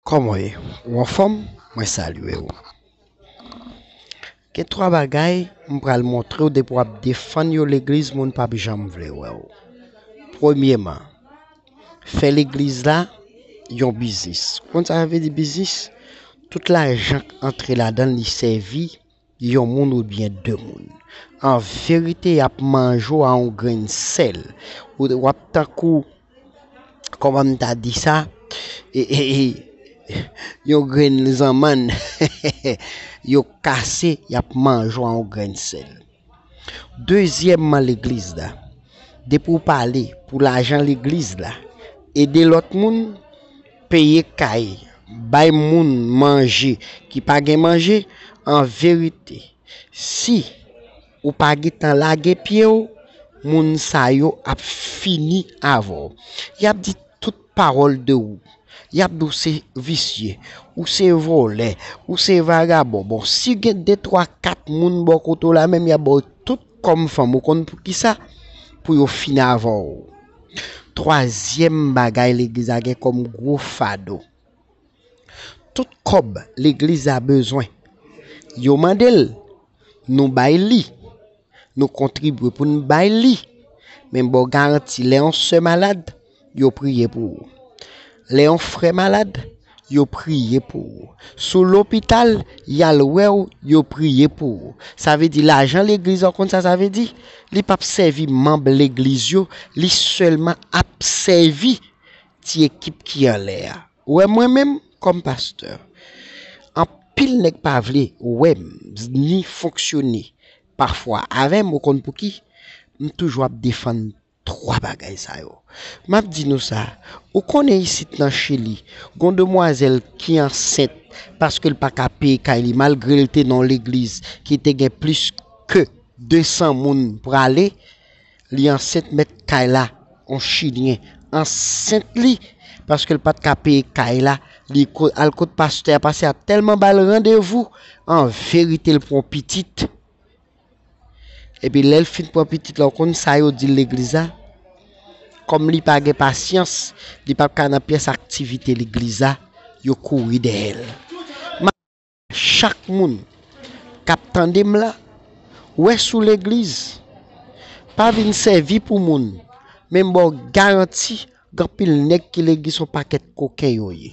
Kòman w ye? Ou anfòm? Mwen salye w. Gen twa bagay m pral montre w depi w ap defann yon legliz moun pap janm vle wè w. Premyeman, fè legliz la yon biznis. Ou konn sa sa vle di biznis? Tout lajan k antre ladan l li sèvi. yon moun oubyen de moun. An verite y ap manje w a yon grenn sèl. W ap tankou, kòman m ta di sa, yon grenn zanmann yo kase, y ap manje w a yon grenn sèl. Dezyèmman legliz la, depi w pale pou lajan legliz la, ede lòt moun, Peye kay, bay moun manje ki pa gen manje, an verite, si ou pa gen tan lage pye w, moun sa yo ap fini avè w. Y ap di tout pawòl de ou. Y ap di w se visye, ou se vòlè, ou se vagabon. Bon, si gen de twa kat moun bò kote w la menm, y ap ba w tout kòm fanm ou konn poukisa pou yo fini avè w twazyèm bagay legliz la gen kòm gwo fado tout kòb legliz la bezwen yo mande l nou bay li nou kontribye pou n bay li men m ba w garanti lè yon sè malad yo priye pou ou. Lè yon frè malad, yo priye pou ou. Sou lopital, y al wè ou, yo priye pou ou. Sa vle di lajan legliz la, ou konn sa sa vle di? Li p ap sèvi manb legliz yo, li sèlman ap sèvi ti ekip ki anlè a. Ou wè mwen menm, kòm pastè, anpil nèg pa vle wè m, ni fonksyone pafwa avè m, ou konn pouki? M toujou ap defann 3 bagay sa yo. M ap di nou sa, ou konnen isit nan Chili, gon demwazèl ki ansent paske l pa ka peye kay li malgre l te nan yon legliz ki te gen plis ke 200 moun prale, li ansent mèt kay la, yon chilyen, ansent li paske l pa t ka peye kay la, li al kot pastè a, pastè a tèlman ba l randevou, an verite l pran yon pitit. Epi lèl fin pran pitit la ou konn sa yo dil legliz la? Kòm li pa gen pasyans, li pap ka nan pyès aktivite legliz la, yo kouri dèyèl. Map mande chak moun kap tandem la, ou wè sou legliz pa vin sèvi pou moun men m baw garanti gen anpil nèg ki legliz son pakèt koken yo ye.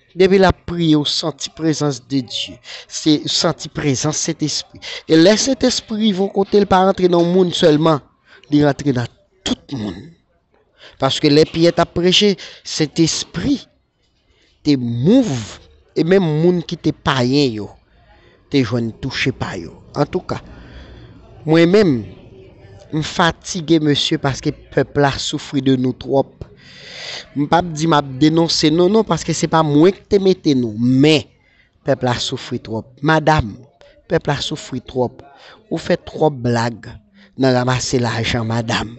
Depi lap priye ou santi prezans de Dye se santi prezans sentespri e lè sentespri rive yon kote li pa rantre nan yon moun sèlman li rantre nan tout moun paske lè Pyè tap preche sentespri te move e menm moun ki te payen yo te jwenn touche pa yo antouka mwen menm m fatige mesye paske pèp la soufri de nou twòp m pap di map denonse nou non paske se pa mwen k te mete nou men pèp la soufri twòp madam pèp la soufri twòp ou fè twòp blag nan ramase lajan madam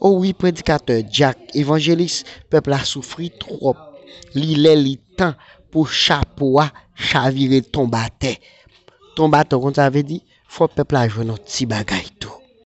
o wi predikatè dyak evanjelis pèp la soufri twòp li lè li tan pou chapo a chavire tonbe atè. Tonbe atè ou konn sa vle di? Fò pèp la jwenn yon ti bagay tou.